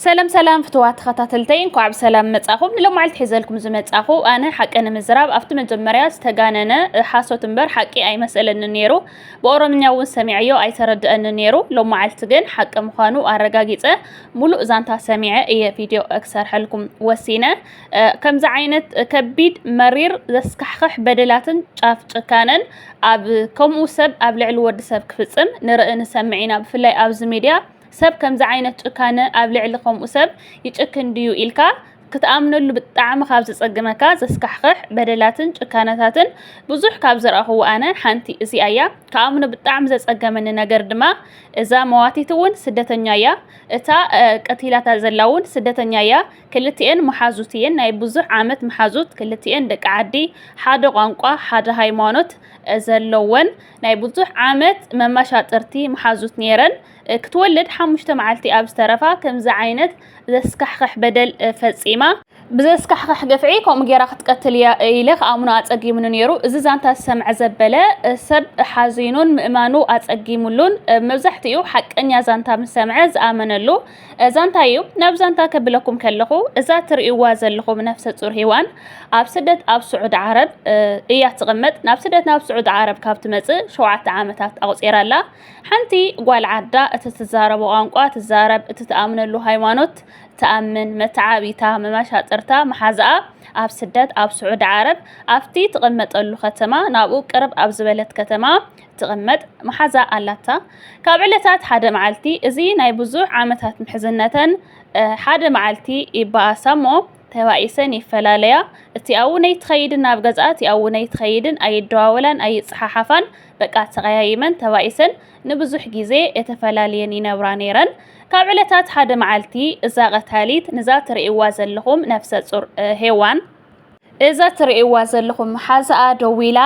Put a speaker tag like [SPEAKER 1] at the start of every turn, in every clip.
[SPEAKER 1] ሰላም ሰላም ፍትዋት ተኸታተልተይ እንኳዕ ብሰላም መጻኹም። ንሎማዕልቲ ሒዘልኩም ዝመጻኹ ኣነ ሓቂ ንምዝራብ ኣብቲ መጀመርያ ዝተጋነነ ሓሶት እምበር ሓቂ ኣይመሰለኒ ነይሩ። ብኦሮምኛ እውን ሰሚዐዮ ኣይተረድአኒ ነይሩ። ሎማዕልቲ ግን ሓቂ ምዃኑ ኣረጋጊጸ ሙሉእ ዛንታ ሰሚዐ እየ ቪድዮ ክሰርሐልኩም ወሲነ። ከምዚ ዓይነት ከቢድ መሪር ዘስካሕኽሕ በደላትን ጫፍ ጭካነን ኣብ ከምኡ ሰብ ኣብ ልዕሊ ወዲ ሰብ ክፍጽም ንርኢ ንሰምዕ ኢና። ብፍላይ ኣብዚ ሚድያ ሰብ ከምዚ ዓይነት ጭካነ ኣብ ልዕሊ ከምኡ ሰብ ይጭክን ድዩ ኢልካ ክትኣምነሉ ብጣዕሚ ካብ ዘጸግመካ ዘስካሕኽሕ በደላትን ጭካነታትን ብዙሕ ካብ ዝረኣኹዎ ኣነ ሓንቲ እዚኣ እያ ከኣምኖ ብጣዕሚ ዘጸገመኒ ነገር ድማ እዛ መዋቲት እውን ስደተኛ እያ እታ ቀቲላታ ዘላ እውን ስደተኛ እያ ክልቲኤን መሓዙት እየን ናይ ብዙሕ ዓመት መሓዙት ክልቲኤን ደቂ ዓዲ ሓደ ቋንቋ ሓደ ሃይማኖት ዘለወን ናይ ብዙሕ ዓመት መመሻጥርቲ መሓዙት ነይረን ክትወልድ ሓሙሽተ መዓልቲ ኣብ ዝተረፋ ከምዚ ዓይነት ዘስካሕኽሕ በደል ፈጺማ። ብዘስካሕኽሕ ግፍዒ ከምኡ ጌራ ክትቀትል እያ ኢለ ክኣምኖ ኣጸጊሙኒ ነይሩ። እዚ ዛንታ ዝሰምዐ ዘበለ ሰብ ሓዚኑን ምእማኑ ኣጸጊሙሉን መብዛሕትኡ ሓቀኛ ዛንታ ምስ ሰምዐ ዝኣመነሉ ዛንታ እዩ። ናብ ዛንታ ከብለኩም ከለኹ እዛ እትርእይዋ ዘለኹም ነፍሰ-ጹር ሂዋን ኣብ ስደት ኣብ ስዑድ ዓረብ እያ ትቕመጥ። ናብ ስደት ናብ ስዑድ ዓረብ ካብ ትመጽእ ሸውዓተ ዓመታት ኣቑጺራ ኣላ። ሓንቲ ጓል ዓዳ እቲ ትዛረቦ ቋንቋ ትዛረብ፣ እቲ ትኣምነሉ ሃይማኖት ትኣምን፣ መተዓብይታ፣ መመሻጥርታ፣ መሓዛኣ ኣብ ስደት ኣብ ስዑዲ ዓረብ ኣብቲ ትቕመጠሉ ከተማ ናብኡ ቅርብ ኣብ ዝበለት ከተማ ትቕመጥ መሓዛ ኣላታ። ካብ ዕለታት ሓደ መዓልቲ እዚ ናይ ብዙሕ ዓመታት ምሕዝነተን ሓደ መዓልቲ ይበኣሳ እሞ ተባኢሰን ይፈላለያ። እቲ ኣውነይ ትኸይድን ናብ ገዝኣ እቲ ኣውነይ ትኸይድን ኣይደዋወላን ኣይጸሓሓፋን። በቃ ተቐያይመን ተባኢሰን ንብዙሕ ግዜ እተፈላልየን ይነብራ ነይረን። ካብ ዕለታት ሓደ መዓልቲ እዛ ቐታሊት ንዛ ትርእይዋ ዘለኹም ነፍሰ ጹር ሄዋን፣ እዛ ትርእይዋ ዘለኹም መሓዛኣ ደዊላ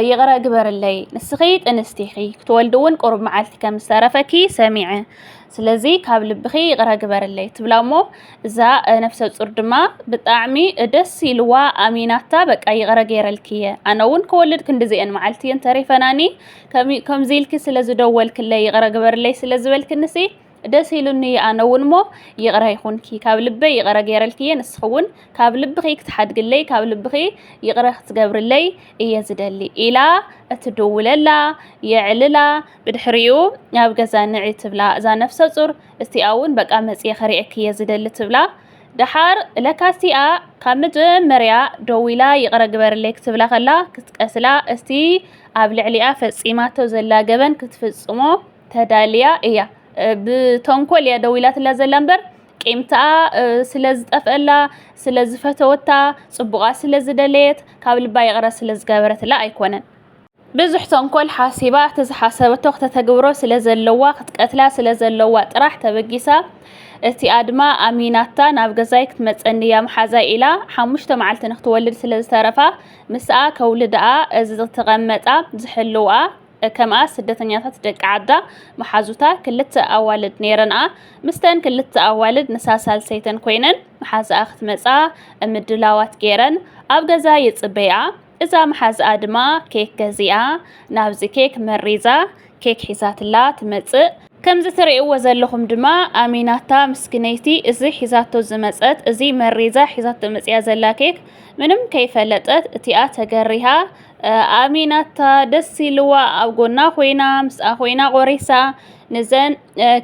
[SPEAKER 1] ይቕረ ግበርለይ ንስኺ ጥንስቲ ኢኺ ክትወልዲ እውን ቁሩብ መዓልቲ ከም ዝተረፈኪ ሰሚዐ ስለዚ ካብ ልብኺ ይቕረ ግበርለይ ትብላ እሞ እዛ ነፍሰ ፁር ድማ ብጣዕሚ ደስ ኢልዋ ኣሚናታ በቃ ይቕረ ገይረልኪ እየ ኣነ እውን ክወልድ ክንዲዚኤን መዓልቲ እየን ተሪፈናኒ ከምዚ ኢልኪ ስለ ዝደወልክለይ ይቕረ ግበርለይ ስለ ዝበልክንሲ ደስ ኢሉኒ እየ ኣነ እውን እሞ ይቕረ ይኹንኪ ካብ ልበይ ይቕረ ገይረልኪ እየ ንስኺ እውን ካብ ልብኺ ክትሓድግለይ ካብ ልብኺ ይቕረ ክትገብርለይ እየ ዝደሊ ኢላ እትድውለላ የዕልላ ብድሕሪኡ ናብ ገዛ ንዒ ትብላ እዛ ነፍሰ ጹር እስቲኣ እውን በቃ መጽየ ከሪኤኪ እየ ዝደሊ ትብላ ደሓር ለካ እስቲኣ ካብ መጀመርያ ደዊላ ይቕረ ግበርለይ ክትብላ ከላ ክትቀስላ እስቲ ኣብ ልዕሊኣ ፈጺማቶ ዘላ ገበን ክትፍጽሞ ተዳልያ እያ ብተንኮል እያ ደዊላትላ ዘላ እምበር ቂምታኣ ስለ ዝጠፍአላ ስለ ዝፈተወታ ጽቡቓ ስለ ዝደለየት ካብ ልባ ይቕረ ስለ ዝገበረትላ ኣይኮነን ብዙሕ ተንኮል ሓሲባ እቲ ዝሓሰበቶ ክተተግብሮ ስለ ዘለዋ ክትቀትላ ስለ ዘለዋ ጥራሕ ተበጊሳ እቲ ኣድማ ኣሚናታ ናብ ገዛይ ክትመጸኒ እያ መሓዛይ ኢላ ሓሙሽተ መዓልቲ ንክትወልድ ስለ ዝተረፋ ምስኣ ከውልድኣ እዚ ዝተቐመጣ ዝሕልውኣ ከምኣ ስደተኛታት ደቂ ዓዳ መሓዙታ ክልተ ኣዋልድ ነይረንኣ ምስተን ክልተ ኣዋልድ ንሳ ሳልሰይተን ኮይነን መሓዛኣ ክትመጻ ምድላዋት ገይረን ኣብ ገዛ ይጽበይኣ እዛ መሓዝኣ ድማ ኬክ ገዚኣ ናብዚ ኬክ መሪዛ ኬክ ሒዛትላ ትመጽእ። ከምዚ ትርእይዎ ዘለኹም ድማ ኣሚናታ ምስኪነይቲ እዚ ሒዛቶ ዝመጸት እዚ መሪዛ ሒዛቶ መጽያ ዘላ ኬክ ምንም ከይፈለጠት እቲኣ ተገሪሃ ኣሚናታ ደስ ኢልዋ ኣብ ጎና ኮይና ምስኣ ኮይና ቆሪሳ ንዘን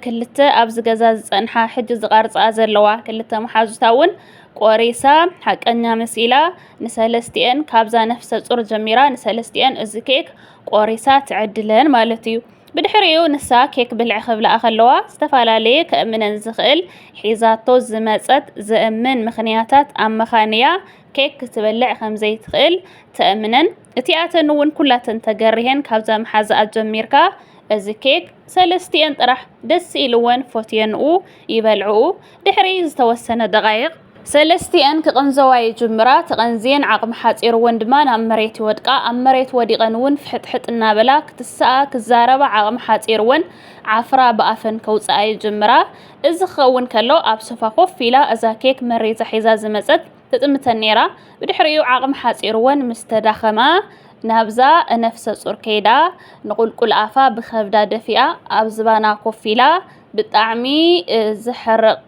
[SPEAKER 1] ክልተ ኣብዚ ገዛ ዝጸንሓ ሕጂ ዝቐርጻ ዘለዋ ክልተ መሓዙታ እውን ቆሪሳ ሓቀኛ መሲላ ንሰለስቲኤን ካብዛ ነፍሰ ጹር ጀሚራ ንሰለስቲኤን እዚ ኬክ ቆሪሳ ትዕድለን ማለት እዩ። ብድሕሪኡ ንሳ ኬክ ብልዕ ክብላኣ ከለዋ ዝተፈላለየ ከእምነን ዝኽእል ሒዛቶ ዝመጸት ዘእምን ምኽንያታት ኣመኻንያ ኬክ ክትበልዕ ከምዘይትኽእል ተእምነን። እቲኣተን እውን ኩላተን ተገሪሀን ካብዛ መሓዛኣ ጀሚርካ እዚ ኬክ ሰለስቲኤን ጥራሕ ደስ ኢልወን ፎትየንኡ ይበልዕኡ። ድሕሪ ዝተወሰነ ደቓይቕ ሰለስቲኤን ክቕንዘዋ ይጅምራ። ተቐንዝየን ዓቕሚ ሓጺርወን ድማ ናብ መሬት ይወድቃ። ኣብ መሬት ወዲቐን እውን ፍሕጥሕጥ እናበላ ክትስኣ፣ ክዛረባ ዓቕሚ ሓጺርወን ዓፍራ ብኣፈን ከውጽኣ ይጅምራ። እዚ ክኸውን ከሎ ኣብ ሶፋ ኮፍ ኢላ እዛ ኬክ መሪዛ ሒዛ ዝመጸት ትጥምተን ነይራ። ብድሕሪኡ ዓቕሚ ሓጺርወን ምስ ተዳኸማ ናብዛ ነፍሰ ጹር ከይዳ ንቑልቁል ኣፋ ብኸብዳ ደፊኣ ኣብ ዝባና ኮፍ ኢላ ብጣዕሚ ዘሕርቕ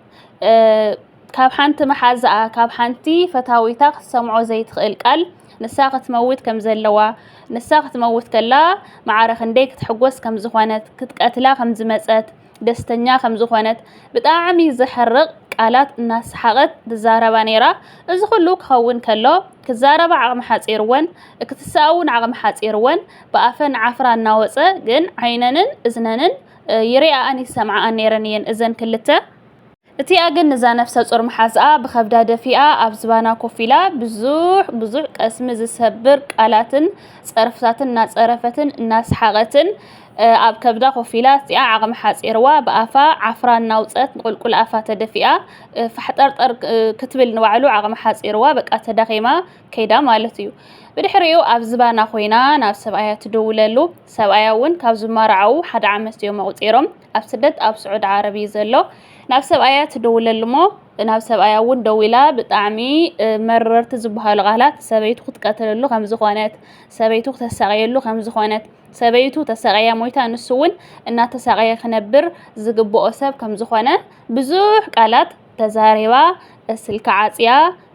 [SPEAKER 1] ካብ ሓንቲ መሓዝኣ ካብ ሓንቲ ፈታዊታ ክትሰምዖ ዘይትኽእል ቃል ንሳ ክትመውት ከም ዘለዋ ንሳ ክትመውት ከላ መዓረ ክንደይ ክትሕጎስ ከም ዝኾነት ክትቀትላ ከም ዝመጸት ደስተኛ ከም ዝኾነት ብጣዕሚ ዘሕርቕ ቃላት እናሰሓቐት ትዛረባ ነይራ እዚ ኩሉ ክኸውን ከሎ ክዛረባ ዓቕሚ ሓጺርወን ክትስኣ እውን ዓቕሚ ሓጺርወን ብኣፈን ዓፍራ እናወጸ ግን ዓይነንን እዝነንን ይሪኣኣን ይሰምዓኣን ነይረን እየን እዘን ክልተ። እቲኣ ግን ንዛ ነፍሰ-ጾር መሓዝኣ ብኸብዳ ደፊኣ ኣብ ዝባና ኮፍ ኢላ ብዙሕ ብዙሕ ቀስሚ ዝሰብር ቃላትን ጸርፍታትን እናጸረፈትን እናሰሓቐትን ኣብ ከብዳ ኮፍ ኢላ እቲኣ ዓቕሚ ሓጺርዋ ብኣፋ ዓፍራ እናውጸት ንቁልቁል ኣፋ ተደፊኣ ፋሕጠርጠር ክትብል ንባዕሉ ዓቕሚ ሓጺርዋ በቃ ተዳኺማ ከይዳ ማለት እዩ። ብድሕሪኡ ኣብ ዝባና ኮይና ናብ ሰብኣያ ትድውለሉ። ሰብኣያ እውን ካብ ዝማርዓዉ ሓደ ዓመት እዮም ኣቑፂሮም ኣብ ስደት ኣብ ስዑድ ዓረብ እዩ ዘሎ ናብ ሰብኣያ ትደውለሉ እሞ ናብ ሰብኣያ እውን ደዊላ ብጣዕሚ መረርቲ ዝበሃሉ ቃላት ሰበይቱ ክትቀትለሉ ከም ዝኾነት ሰበይቱ ክተሳቐየሉ ከም ዝኾነት ሰበይቱ ተሳቐያ ሞይታ ንሱ እውን እናተሳቐየ ክነብር ዝግብኦ ሰብ ከም ዝኾነ ብዙሕ ቃላት ተዛሪባ ስልኪ ዓፅያ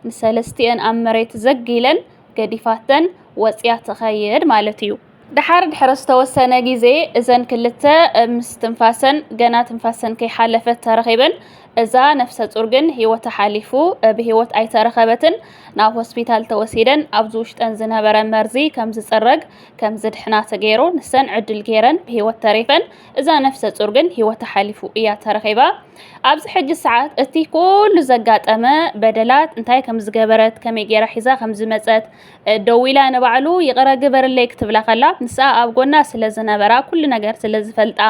[SPEAKER 1] ንሰለስትኤን ኣብ መሬት ዘግ ኢለን ገዲፋተን ወፅያ ትኸይድ ማለት እዩ። ደሓር ድሕሪ ዝተወሰነ ግዜ እዘን ክልተ ምስ ትንፋሰን ገና ትንፋሰን ከይሓለፈት ተረኺበን። እዛ ነፍሰ-ጹር ግን ህይወታ ሓሊፉ ብህይወት ኣይተረኸበትን። ናብ ሆስፒታል ተወሲደን ኣብዚ ውሽጠን ዝነበረ መርዚ ከም ዝጽረግ ከም ዝድሕና ተገይሩ። ንሰን ዕድል ገይረን ብህይወት ተሪፈን። እዛ ነፍሰ-ጹር ግን ህይወታ ሓሊፉ እያ ተረኺባ። ኣብዚ ሕጂ ሰዓት እቲ ኩሉ ዘጋጠመ በደላት እንታይ ከም ዝገበረት ከመይ ገይራ ሒዛ ከም ዝመጸት ደው ኢላ ንባዕሉ ይቕረ ግበርለይ ክትብላ ከላ ምስኣ ኣብ ጎና ስለ ዝነበራ ኩሉ ነገር ስለ ዝፈልጣ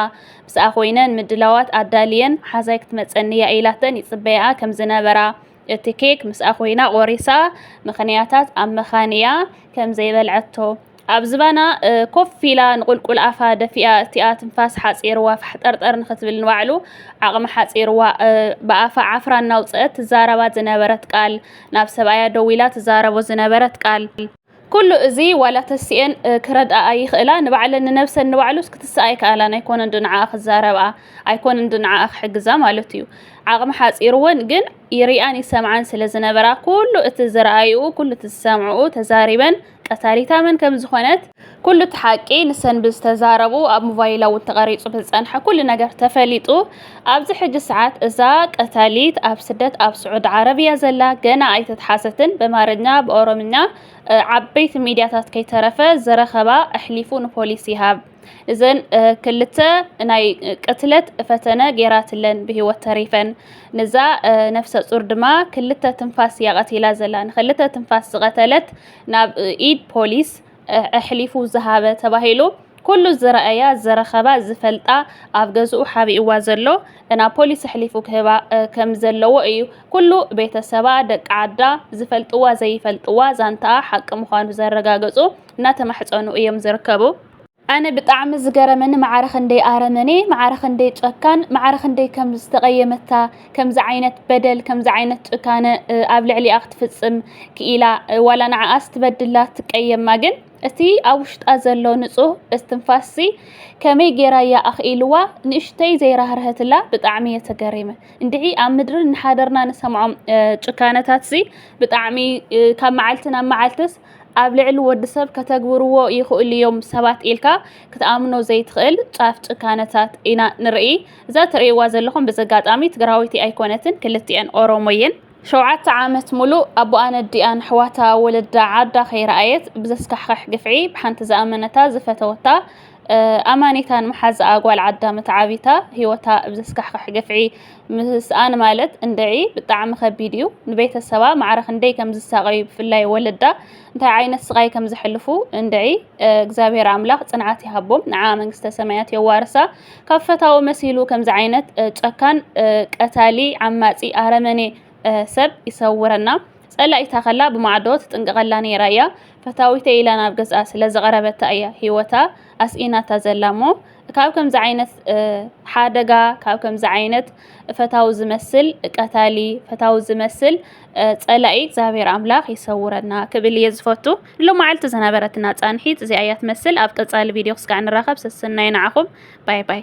[SPEAKER 1] ምስኣ ኮይነን ምድላዋት ኣዳልየን ሓዛይ ክትመፀኒ እያ ኢላተን ይፅበያኣ ከም ዝነበራ እቲ ኬክ ምስኣ ኮይና ቆሪሳ ምክንያታት ኣብ ምኻን እያ ከም ዘይበልዐቶ ኣብ ዝባና ኮፍ ኢላ ንቁልቁል ኣፋ ደፊኣ እቲኣ ትንፋስ ሓፂርዋ ፋሕጠርጠር ንክትብል ንባዕሉ ዓቕሚ ሓፂርዋ ብኣፋ ዓፍራ እናውፅአት ትዛረባ ዝነበረት ቃል ናብ ሰብኣያ ደዊላ ትዛረቦ ዝነበረት ቃል ኩሉ እዚ ዋላ ተሲኤን ክረድኣኣ ይኽእላ ንባዕለን ንነብሰን ንባዕሉስ ክትስኣ ኣይከኣላን ኣይኮነን ዶ ንዓኣ ክዛረብኣ ኣይኮነን ዶ ንዓኣ ክሕግዛ ማለት እዩ ዓቕሚ ሓፂርወን ግን ይሪኣን ይሰምዓን ስለ ዝነበራ ኩሉ እቲ ዝረኣይኡ ኩሉ እቲ ዝሰምዕኡ ተዛሪበን ቀታሊታ መን ከም ዝኾነት ኩሉ እቲ ሓቂ ንሰን ብዝተዛረቡ ኣብ ሞባይላ እውን ተቐሪፁ ብዝፀንሐ ኩሉ ነገር ተፈሊጡ ኣብዚ ሕጂ ሰዓት እዛ ቀታሊት ኣብ ስደት ኣብ ስዑድ ዓረብ እያ ዘላ ገና ኣይተትሓሰትን በማርኛ ብኦሮምኛ ዓበይቲ ሚዲያታት ከይተረፈ ዝረኸባ ኣሕሊፉ ንፖሊስ ይሃብ እዘን ክልተ ናይ ቅትለት ፈተነ ገይራትለን ብሂወት ተሪፈን ንዛ ነፍሰ ፁር ድማ ክልተ ትንፋስ እያ ቀቲላ ዘላ ንክልተ ትንፋስ ዝቀተለት ናብ ኢድ ፖሊስ ኣሕሊፉ ዝሃበ ተባሂሉ ኩሉ ዝረኣያ ዝረኸባ ዝፈልጣ ኣብ ገዝኡ ሓቢእዋ ዘሎ ናብ ፖሊስ ኣሕሊፉ ክህባ ከም ዘለዎ እዩ ኩሉ ቤተሰባ ደቂ ዓዳ ዝፈልጥዋ ዘይፈልጥዋ ዛንታኣ ሓቂ ምዃኑ ዘረጋገፁ እናተማሕጸኑ እዮም ዝርከቡ። ኣነ ብጣዕሚ ዝገረመኒ ማዕረ ክንደይ ኣረመኔ ማዕረ ክንደይ ጨካን ማዕረ ክንደይ ከም ዝተቐየመታ ከምዚ ዓይነት በደል ከምዚ ዓይነት ጭካነ ኣብ ልዕሊኣ ክትፍጽም ክኢላ ዋላ ንዓኣ ስትበድላ ትቀየማ ግን እቲ ኣብ ውሽጣ ዘሎ ንጹህ እስትንፋስሲ ከመይ ጌራ እያ ኣኽኢልዋ ንእሽተይ ዘይራህርሀትላ ብጣዕሚ እየ ተገሪመ እንድዒ ኣብ ምድሪ ንሓደርና ንሰምዖም ጭካነታትሲ ብጣዕሚ ካብ መዓልቲ ናብ መዓልትስ ኣብ ልዕሊ ወዲ ሰብ ከተግብርዎ ይኽእሉ እዮም ሰባት ኢልካ ክትኣምኖ ዘይትኽእል ጫፍ ጭካነታት ኢና ንርኢ። እዛ ትርእይዋ ዘለኹም ብዘጋጣሚ ትግራወይቲ ኣይኮነትን፣ ክልቲኤን ኦሮሞ እየን። ሸውዓተ ዓመት ሙሉእ ኣቦኣን ኣዲኣን ኣሕዋታ ወለዳ ዓዳ ከይረኣየት ብዘስካሕኽሕ ግፍዒ ብሓንቲ ዝኣመነታ ዝፈተወታ ኣማኒታ ንመሓዝኣ ጓል ዓዳም ተዓቢታ ህይወታ ብ ዘስካሕክሕ ግፍዒ ምስኣን ማለት እንድዒ ብጣዕሚ ከቢድ እዩ። ንቤተሰባ ማዕረ ክንደይ ከም ዝሳቐዩ ብፍላይ ወለዳ እንታይ ዓይነት ስቓይ ከም ዘሕልፉ እንድዒ እግዚኣብሔር ኣምላኽ ጽንዓት ይሃቦም ንዓ መንግስተ ሰማያት የዋርሳ። ካብ ፈታዊ መሲሉ ከምዚ ዓይነት ጨካን ቀታሊ ዓማጺ ኣረመኔ ሰብ ይሰውረና። ጸላኢታ ከላ ብማዕዶ ትጥንቀቐላ ነይራ እያ። ፈታዊተይ ኢላ ናብ ገዝኣ ስለ ዝቐረበታ እያ ሂወታ ኣስኢናታ ዘላ እሞ ካብ ከምዚ ዓይነት ሓደጋ ካብ ከምዚ ዓይነት ፈታዊ ዝመስል ቀታሊ ፈታዊ ዝመስል ጸላኢ እግዚኣብሔር ኣምላኽ ይሰውረና ክብል እየ ዝፈቱ ሎማዓልቲ ዝነበረትና ጻንሒት እዚኣ እያ ትመስል ኣብ ቀጻሊ ቪድዮ ክስካዕ ንራኸብ ሰሰናዩ ንዓኹም ባይ ባይ